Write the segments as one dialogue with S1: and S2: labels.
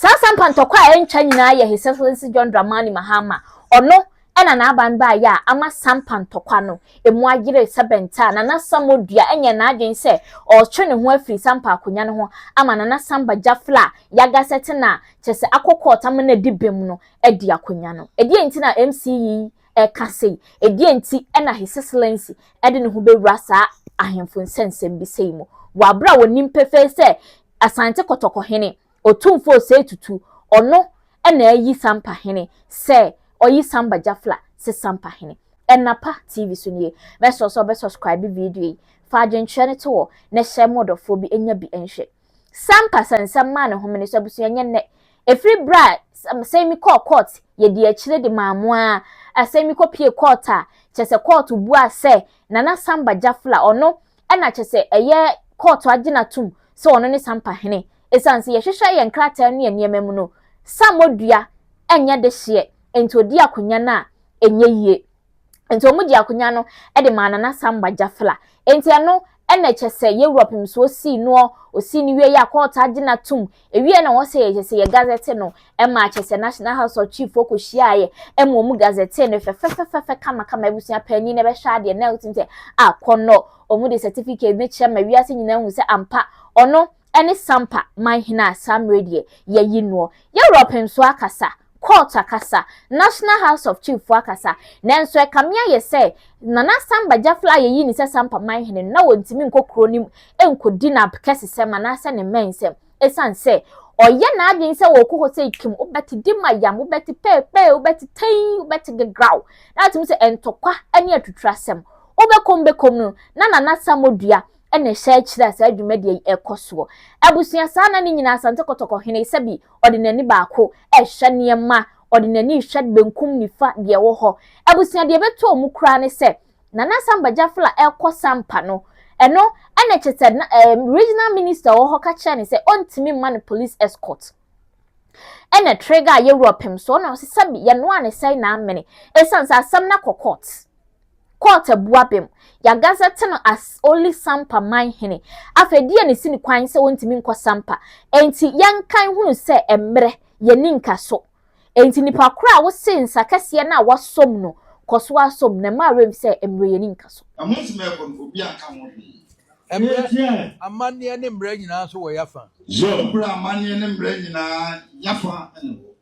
S1: Saa sampa ntɔkwa a ɛntwa nyinaa yɛ His Excellency John Dramani Mahama, ɔno na n'aban baeɛ a ama sampa ntɔkwa no mu ayere sɛ bɛnta a Nana Samoa dua nyɛɛ n'adwene sɛ ɔretwe ne ho afiri sampa akonnwa no ho ama Nana Samba Jafla Yagasete no a kyerɛ sɛ akɔ kɔɔt ama no adi bem no adi akonnwa no. Ɛdeɛn nti na MC yi reka sei? Ɛdeɛn nti na His Excellency de ne ho bɛwura saa ahemfo nsɛnsɛm bi sei mu wɔ aberɛ a wɔnim pefee sɛ Asante Kɔtɔkɔ hene, Otumfo Osei Tutu, ɔno na ayi Sampa hene sɛ ɔyi Samba Jafla se Sampa hene. Ɛnapa TV so nie. Mɛsrɛ wo sɛ wobɛ subscribe video yi, fa adwenkyerɛ no to hɔ na hyɛ mo ɔdɔfoɔ bi nya bi nhwɛ. Sampa sɛ nsɛm maa ne homene so abusua ɛnyɛ nnɛ. Ɛfiri berɛ a Asemi kɔɔ court yɛdii akyire de maa mo ara, Asemi kɔpie court a kyerɛ sɛ court buaa sɛ Nana Samba Jafla ɔno ɛna kyɛ sɛ ɛyɛ kɔɔto agye no atom sɛ ɔno ne Sampa hene. Esiane sɛ yɛhwehwɛ yɛn nkrataa ne yɛn nneɛma mu no, Sammɔ dua nyɛ dehyeɛ, enti ɔdii akonnwa no a ɛnyɛ yie. Enti wɔn gye akonnwa no de maa Nana Samba Jafla. Enti ɛno ɛna kyɛ sɛ Yewura Pemsoɔ sii noɔ, ɔsii no wieeɛ a kɔɔto agye no atom, Ewiei na wɔsɛ yɛkyɛ sɛ yɛ gazɛte no ma akyɛ sɛ National House of Chief fo kohyiaeɛ ma wɔn gazɛte no fɛfɛfɛfɛfɛ kamakama abusua panyin na ɛbɛhwɛ adeɛ na ɛwɔ sɛ a kɔnnɔ wɔn de certificate no kyerɛ ma wiase nyinaa hu sɛ ampa ɔno ɛne Sampa man hene a saa mmerɛ deɛ yɛyi noɔ. Yɛwura ɔpɛnsoɔ akasa. Court akasa, National House of Chief foɔ akasa, nanso ɛkame ayɛ sɛ Nana Samba Gyafla a yɛyi ne sɛ Sampa Manhene no na ɔntumi nkɔ kuro no mu nkɔdi n'abkɛsesɛm anaasɛ ne mmɛnsɛm ɛsiane sɛ ɔyɛ n'adwene sɛ ɔrekɔ hɔ sɛ Kim wobɛte Dimayam, wobɛte Peepee, wobɛte Tei, wobɛte Gegraw. Na atum sɛ ntɔkwa ne atuturasɛm. Wobɛkom bɛkom no, na Nana Samodua na ɛhyɛ akyiri a saa dwumadie yi ɛkɔ soɔ. Abusua saa na ne nyinaa Asante Kɔtɔkɔ hene sɛbi ɔde n'ani baako ɛhwɛ nneɛma, ɔde n'ani hwɛ benkum nifa deɛ ɛwɔ hɔ. Abusua deɛ ɛbɛtɔɔ mu koraa ne sɛ Nana Asamba Gyafla ɛkɔ Sampa no, ɛno ɛna kyɛ sɛ na ɛɛ eh, regional minister wɔ hɔ ka kyerɛ ne sɛ ɔntumi mma no police escort ɛna trigger yɛwura pem so ɔna ɔsɛ sɛbi yɛnoa ne sɛe na amene ɛsiane sɛ asɛm no akɔ court. Court abua bem. Yɛagazetɛ no as only Sampa man hene. Afei deɛn na ɛsi no kwan sɛ ɔntumi nkɔ Sampa? Enti yɛnkan hunu sɛ mmerɛ, yɛnni nkaso. Enti nipa korɔ a wose nsa kɛseɛ no a wasɔm no, kɔ so ara sɔm, na mma werɛm sɛ mmerɛ yɛnni nkaso. Na montumi ɛkɔ no, obiara nka ho hwee. Mmerɛ, amanneɛ ne mmerɛ nyinaa nso wɔ Y'afa. Zor. Mmerɛ, amanneɛ ne mmerɛ nyinaa Y'afa na ɛwɔ.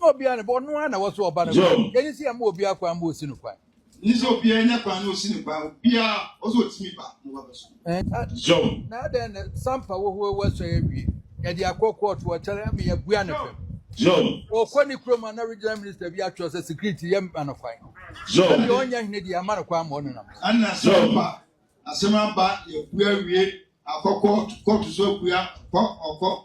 S1: na obiara ne bɔ ɔno ara na ɛwɔ so ɔba no kwan Job. yɛn nsi ama obiara kwan ma osi no kwan Ni sɛ obiara nya kwan na osi ne kwan obiara ɔsɛ otumi ba na waba so. ɛn a- Job. na adɛn na sampa wɔ hɔ wɔasua awie yɛde akɔ kɔɔto ɔkyɛrɛ ama yɛabua no fam Job. ɔkɔ ne kurom a na regional minister bi atwerɛ sɛ security yɛ ma no kwan Job. sɛdeɛ ɔnyɛ hene deɛ ama no kwan ma ɔno nam so Ɛna sɛ Job. ɔba asɛm aba yɛbua wie akɔ kɔɔto kɔɔto so abua kɔ ɔkɔ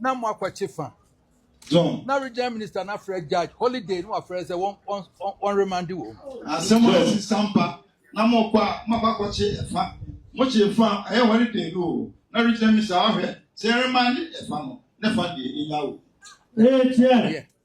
S1: na mo akwakye fa na regional minister na afrɛ judge holiday na wafrɛ sɛ wɔn wɔn wɔn remande wɔn. asɛm a ɛsi sampa na mo kɔ a mo akɔ akɔkye ɛfa mo kye ɛfa ɛyɛ holiday no o na regional minister ahwɛ sɛ remande ɛfa no ne fa deɛ ɛnya o. ɛyɛ tiɛ.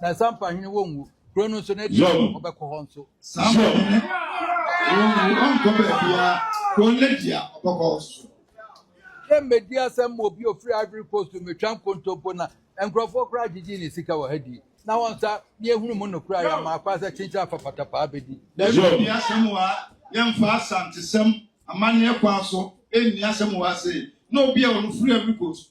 S1: na ɛsan mpa hwene wɔnwu kuro no nso na adi ɔbɛkɔ hɔ nso dɛ mmɛdi asɛm ma obi ofiri ivory coast mmetwa nkontompo na nkurɔfoɔ koraa gyegye ne sika wɔ ha di na wɔn nsa ne ehunu mu no koraa yɛn maa kwan sɛ kyenkyen afafata paa bɛdi. dɛbi obi asɛm wɔ ha yɛmfa asantesɛm amanneɛ kwan so ɛnni asɛm wɔ ha sei na obi a ɔno firi ivory coast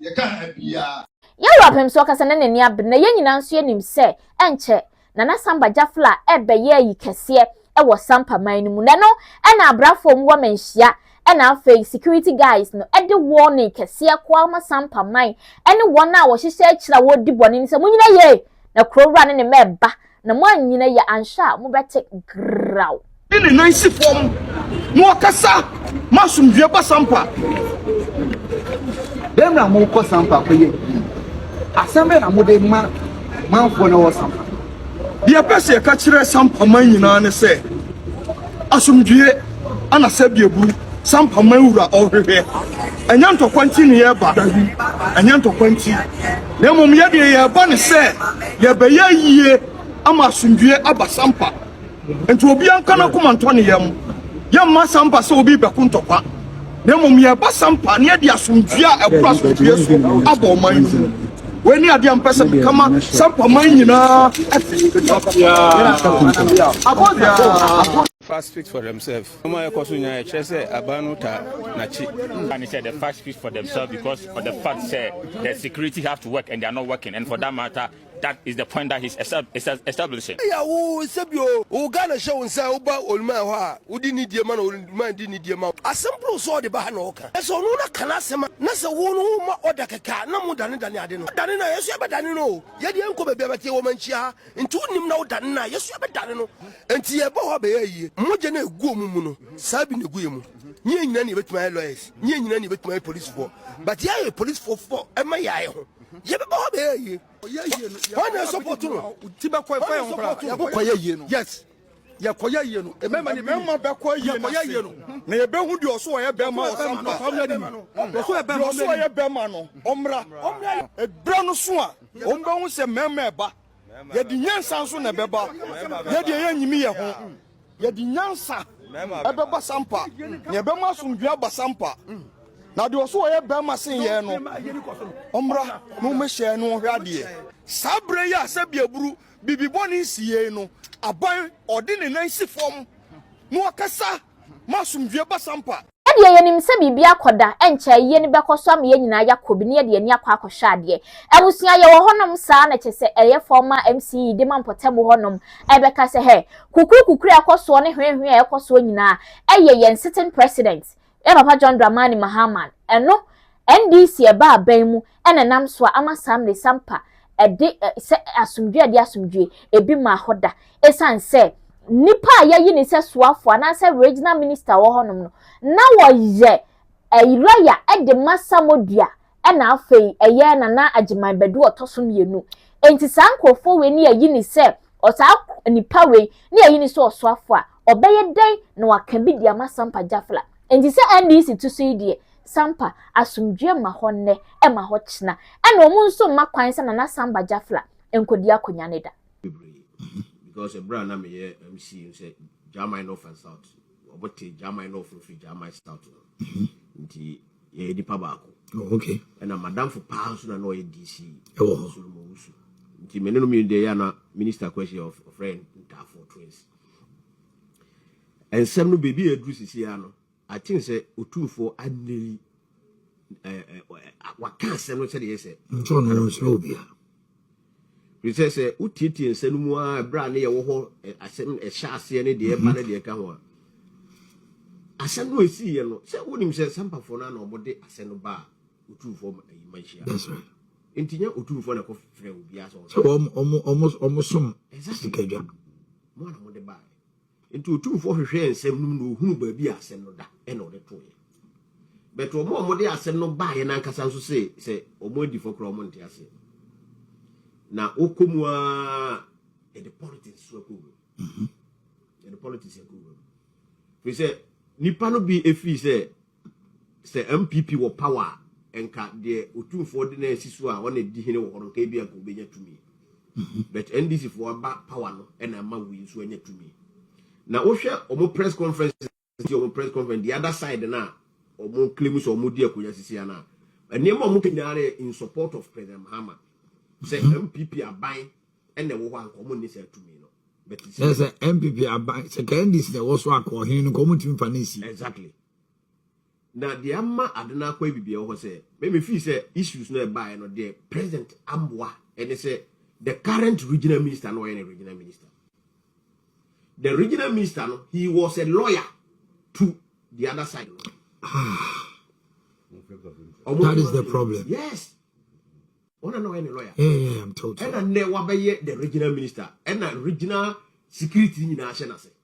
S1: Yɛka ha biara. Yɛn Wura Pɛm sɛ ɔkasa na n'ani abere na yɛn nyinaa nso yɛnim sɛ ɛnkyɛ Nana Samba Gyafla rebɛyɛ ayi kɛseɛ wɔ Sampa man no mu na ɛno na abrafoɔ mu wama nhyia na afei security guys no de warning kɛseɛ kɔ ama Sampa man ne wɔn a wɔhyehyɛ akyire a wɔredi bɔne no sɛ monyina yie na kuro wura ne ne mma reba Na moannyina yie anhwɛ a, mobɛte graw. De ne nan si fam na ɔkasa ma asomdwoeɛ ba sampa. Dɛm na mokɔ sampa kɔyɛ adwuma. Asɛm bɛn na mode ma manfoɔ no wɔ sampa? Deɛ ɛpɛ sɛ yɛka kyerɛ sampa man nyinaa ne sɛ. Asomdwie ana sɛdeɛ buru sampa man wura ɔhwehwɛ? Ɛnyɛ ntɔkwa nti ne yɛreba, dabi, ɛnyɛ ntɔkwa nti, na mmom yɛ deɛ yɛreba ne sɛ yɛbɛyɛ yie ama asomdwie aba sampa. Nti obiara nka n'akoma ntɔ ne yam, yɛmma sampa sɛ obi rebɛko ntɔkwa. na mmom yɛ basa mpa na yɛde asomdwoe a ɛboro asomdwoe so aba ɔman no mu. Wei ne adeɛ a mpɛ sɛ meka ma Sampa man nyinaa ɛte. Abɔdeɛ. Facts speak for themselves. Nneɛma a ɛkɔ so nyinaa ɛkyerɛ sɛ aban no taa n'akyi. Ka ne sɛ the facts speak for themselves because for the fact sɛ the security have to work and they are not working and for that matter That is the point that he's establishing. Eya wo nsa bi o, wo Ghana hyɛ wo nsa a woba Oluman hɔ a wode nidie ma na Oluman de nidie ma wo. Asɛm borow so a ɔde ba ha na ɔka. Ɛsɛ ɔno na ka n'asɛm a na sɛ wo no woma order kɛkɛ a na modane dane ade no. Ɔdane no a yɛ nso yɛbɛdane no o. Yɛ deɛ yɛnkɔ baabi a bɛte yɛ wɔma nkyia ha nti wonnim na wodane no a yɛ nso yɛbɛdane no. Nti yɛba hɔ a bɛyɛ ayie. Mogya no a ɛgu ɔmo mu no saa bi na ɛgu yɛ mu. Nyɛ nyina na yɛbɛtumi ayɛ lawyers, nyɛ nyina na yɛbɛtumi ayɛ policefoɔ but yɛayɛ policefoɔ for ɛma yɛ ayɛ ho. yɛbɛba hɔ bɛyɛ yie hɔ na ɛsɔpɔto no yɛkɔyɛ yie no yes yɛkɔyɛ yie no mmarima ne mmarima bɛkɔ yie no yɛkɔyɛ yie no na yɛbɛhu deɛ ɔso ɔyɛ bɛrima ɔsam no ɔsam yɛ nim deɛ ɔso ɔyɛ bɛrima no ɔmmra ɛberɛ no so a ɔmbɛhu sɛ mmarima ɛba yɛde nyansa nso na ɛbɛba yɛdeɛ yɛnyimi yɛ ho Yɛde nyansa ɛbɛba sampa, na ɛbɛma asomdwoe aba sampa. Na deɛ ɔso ɔyɛ barima sen yɛn no, ɔmmra na ɔmmɛhyɛ yɛn ne wɔn hwɛ adeɛ. Saa berɛ yi a sɛdeɛ aburu bibibɔne nsi yei no, aban ɔde ne nan si fam na ɔkasa ma asomdwoe ba sampa. Yɛdeɛ yɛnim sɛ biribi akɔ da ɛnkyɛ ayie no bɛkɔ so ama yɛn nyinaa yɛakɔ bi na yɛde yɛn ani akɔ akɔhwɛ adeɛ. Abusua yɛwɔ hɔ nom saa na kyɛ sɛ ɛyɛ fɔɔ ma MC yi de ma mpɔtam hɔ nom ɛbɛka sɛ hɛ kukuru kukuru a ɛkɔ soɔ ne hwee hwee a ɛkɔ soɔ nyinaa ɛyɛ yɛn sitting president yɛn papa John Dramani Mahama ɛno NDC ɛbaa bɛn mu ɛna ɛnam so a ama saa mmere sampa ɛde sɛ asomdwoe ɛde asomdwoe ebi maa hɔ da esiane sɛ nipa a yɛyi ne sɛ soafo anaasɛ regional minister wɔ hɔnom no na wɔyɛ ɛyiraya ɛde ma samodua ɛna afei ɛyɛ nana agyeman bɛdu ɔtɔ so mmienu enti saa nkurɔfoɔ wei ne yɛyi ne sɛ ɔsaa nipa wei ne yɛyi ne sɛ ɔsoafo a ɔbɛyɛ dɛn na waka bi de ama sampa jafla enti sɛ ndc to so yi deɛ Sampa, asomdwoeɛ mma hɔ nnɛ, ɛmma hɔ kyena, ɛna wɔn nso mma kwan sɛ Nana Samba Jafla nkɔdi akonya no da. Because ɛberɛ a na meyɛ MC no sɛ Gyamai North and South, wɔn te Gyamai North no firi Gyamai South no, nti yɛyɛ nnipa baako. Oh, okay. Ɛna madamfo paa nso na na ɔyɛ DC, ɛwɔ hɔ, Solomon Wusu, nti me ne no mmienu deɛ yɛ ana Minister Kwesi of ɔfrɛ Ntaafo Twins. Ɛnsɛm no baabi a aduru sisi ara no, Aten sɛ otumfoɔ anna yi waka asɛm no sɛdeɛ ɛyɛ sɛ. Nso ɔno ɔnsrɛ obiara. Ɛfiri sɛ sɛ wotietie nsa no mu a ɛberɛ a ne yɛwɔ hɔ asɛm ɛhyɛ aseɛ ne deɛ ɛba ne deɛ ɛka ho a asɛm no ɛsiiɛ no sɛ wonim sɛ sampafoɔ no ana wɔde asɛm no baa otumfoɔ ma ayi ma nhyia. That's right. Nti nyɛ otumfoɔ na ɛkɔfrɛ obiara sɛ wɔn. Sɛ wɔn wɔn wɔn wɔn som sikadwa. Mo ana mode baaɛ. Enti Otumfoɔ hwehwɛɛ nsɛm no mu na ohunuu baabi a asɛm no da, ɛnna ɔde toeɛ. But wɔn a wɔde asɛm no baeɛ no ankasa nso se sɛ wɔn adifo koraa wɔnte aseɛ. Na wokɔ mu ara yɛde politics so akɔ wura mu. Yɛde politics akɔ wura mu. Firi sɛ nipa no bi firi sɛ Sɛ NPP wɔ power a, nka deɛ Otumfoɔ de no asi so a ɔna di hene wɔ hɔ no nka ebia nka obenya tumi. But NDC foɔ aba power no ɛna ama wei nso anya tumi. Na wohwɛ wɔn press conference si wɔn press conference the other side no a wɔn claim sɛ wɔn di akonnwa sisi ano a nneɛma wɔn ka nyinaa no yɛ in support of President Mahama sɛ NPP mhm. aban ɛna ɛwɔ hɔ a nka wɔn nni saa tumi no. Sɛ sɛ NPP aban sɛ ka NDC na ɛwɔ so akɔ ɔhene no nka wɔn ntumi fa ne nsi. Exactly. Na deɛ ama ade no akɔ abibia wɔ hɔ sɛ me me feel sɛ issues no ɛbaeɛ no deɛ president amboa ɛne sɛ the current regional minister no ɔyɛ ne regional minister the regional minister no he was a lawyer to the other side no that is the problem yes ɔna na ɔyɛ ne lawyer yeah, yeah, I'm told ɛna nnɛ wabɛyɛ the regional minister ɛna regional security nyinaa hyɛ n'ase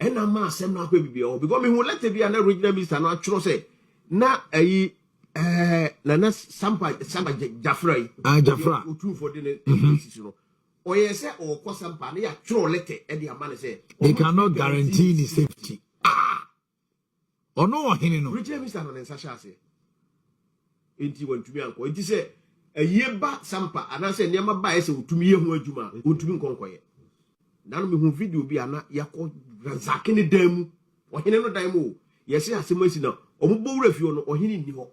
S1: ɛna ma asɛm no akɔ biribi ɔhɔ because mehu lɛtɛ bi a na regional minister no atwerɛ sɛ na ayi ɛɛ nana sampa saba gyafra yi ah gyafra otumfoɔ de ne sisi no ɔyɛ sɛ ɔkɔ sampa ne yɛatwerɛ lɛtɛ ɛde ama no sɛ they cannot guarantee ne safety ah Ɔno ɔhene no. Regyina misa no ne nsa hyɛ aseɛ. Enti wantumi ankɔ. Enti sɛ ayie ba sampa anaasɛ nneɛma ba a ɛyɛ sɛ wɔtumi yɛ ho adwuma a, ɔntumi nkɔ nkɔyɛ. Nano mehuu video bi a na yɛakɔ Razake ne dan mu, ɔhene no dan mu o. Yɛse asɛm asi na wɔbɔ wura fie hɔ no, ɔhene nni hɔ.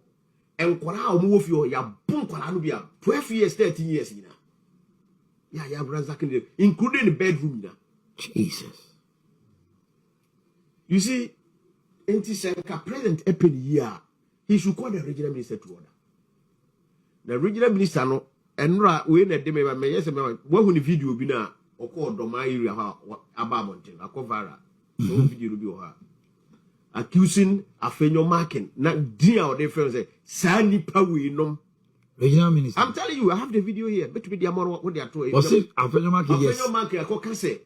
S1: Nkwadaa a wɔwɔ fie hɔ, yɛabo nkwadaa no bia 12 years, 13 years nyinaa. Yɛayɛ Razake ne dan, including ne bedroom nyinaa. Jesus. You see, nti sɛ nka president ɛpɛ ne yie a, he should call the regional minister to order. Na regional minister no, ɛnora wei na ɛde me ba mɛyɛ sɛ mɛma wahu ne video bi no a ɔkɔ ɔdɔmaa area hɔ a aba abɔnten akɔ viral. So mm-hmm. video no bi wɔ hɔ a accusing afenyo marking na din a ɔde fɛn sɛ saa nipa wei nom regional minister i'm telling you i have the video here betumi di amɔ no wɔde ato ɛyɛ wɔsi afenyo marking yes afenyo marking akɔka sɛ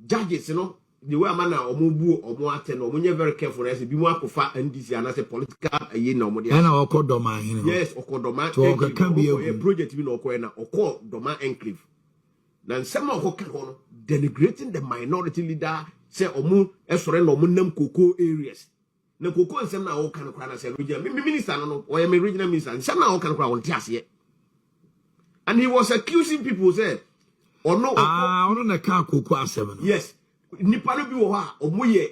S1: Judges no the way ama na wɔn bu wɔn atɛ no wɔn nyɛ very careful na ɛsɛ bi mu akɔfa NDC anaasɛ political ɛyi na wɔn de ahyɛ. Ɛna ɔkɔ dɔm ahene hɔ. Yes ɔkɔ dɔm enclave ɔkɔ yɛ project bi na ɔkɔ yɛ na ɔkɔ dɔm enclave na nsɛm a ɔkɔ ka hɔ no denigrating the minority leader sɛ wɔn ɛsɔre na wɔn nam koko areas Na koko nsɛm no a wɔka no koraa na sɛ regional me minister no no ɔyɛ me regional minister nsɛm no a wɔka no koraa wɔnte aseɛ and he was accusing people sɛ ɔno ɔkɔ ah ɔno na ɛka koko asɛm no yes nipa no bi wɔ hɔ a ɔmo yɛ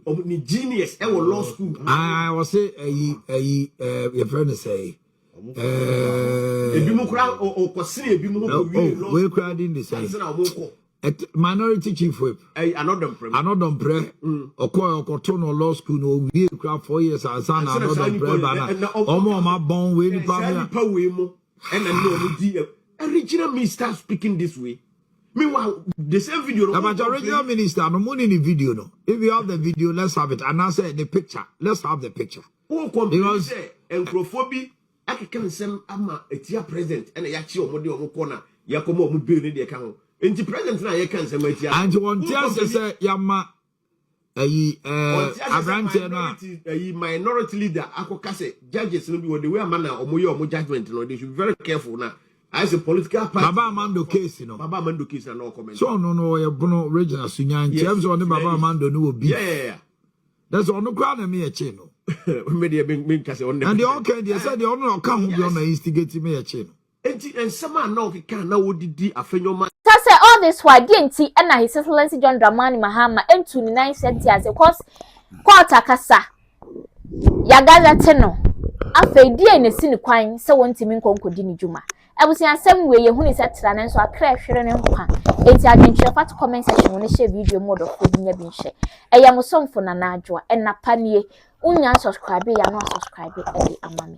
S1: ɔmo ne genius ɛwɔ law school ah ɔsɛ ɛyi ɛyi ɛɛ yɛfrɛ no sɛ ɛɛ ebi mu koraa ɔkɔ sini ebi mu hɔ wɔ wie law school wei koraa di ne sɛ ɛsɛ na ɔmo kɔ Ɛt minority chief whip. Ɛy anɔdɔmprɛ mu. Anɔdɔmprɛ. Mm. Ɔkɔɛ ɔkɔto no law school no owie kura four years ansa na anɔdɔmprɛ ba na. Ɔmo ɔmo abɔn wei nipa mea. Saa nipa wei mo ɛna ne ɔmo di ɛ. Original me start speaking this way. Meanwhile the same video no. Ɛbɛkyɛ original minister no mo ne ne video no. If you have the video let's have it anaasɛ ne picture let's have the picture. Wo complain sɛ nkurɔfoɔ bi. akeka nsɛm ama atia president ɛna yakye wɔn de wɔn kɔ na yakɔma wɔn bill ne deɛ ɛka ho nti president na yɛka nsɛm atia no. Nti wɔn ti ase sɛ yama ɛyi ɛɛ aberanteɛ no a. Ɛyi minority leader akɔ ka sɛ judges no bi wɔ de wei ama na wɔn yɛ wɔn judgement no they should be very careful na ayɛ sɛ political party. Baba Amando case no. Baba Amando case na na ɔkɔmɛnti. So ɔno no ɔyɛ bono regional sunyan nti ɛm sɛ ɔne Baba Amando no wɔ beef. Yeah yeah yeah. na sɛ ɔno koraa na ɛma yɛkyee no me deɛ menka sɛ ɔno na deɛ ɔka deɛ sɛ deɛ ɔno na ɔka ho bi ɔna instigate me yɛkyee no nti nsɛm a na ɔkeka na wɔdidi afɛnyɔma Kyɛ sɛ all this while deɛ nti na His Excellency John Dramani Mahama ntu ne nan nhyɛ ntease cause court akasa yɛagazɛte no afei deɛ na ɛsi ne kwan sɛ wɔntumi nkɔ nkɔdi ne dwuma Abusuasɛm wei yɛhunii sɛ tra nanso atrɛ hwere ne nkwa enti adwenkyerɛ fa to comment section mu ne hyɛ video mu ɔdɔfo obi nya bi nhwɛ ɛyɛ mo somfo Nana Adwoa ɛnna pa nie wonya nsubscribe yɛ ano asubscribe ɛde ama me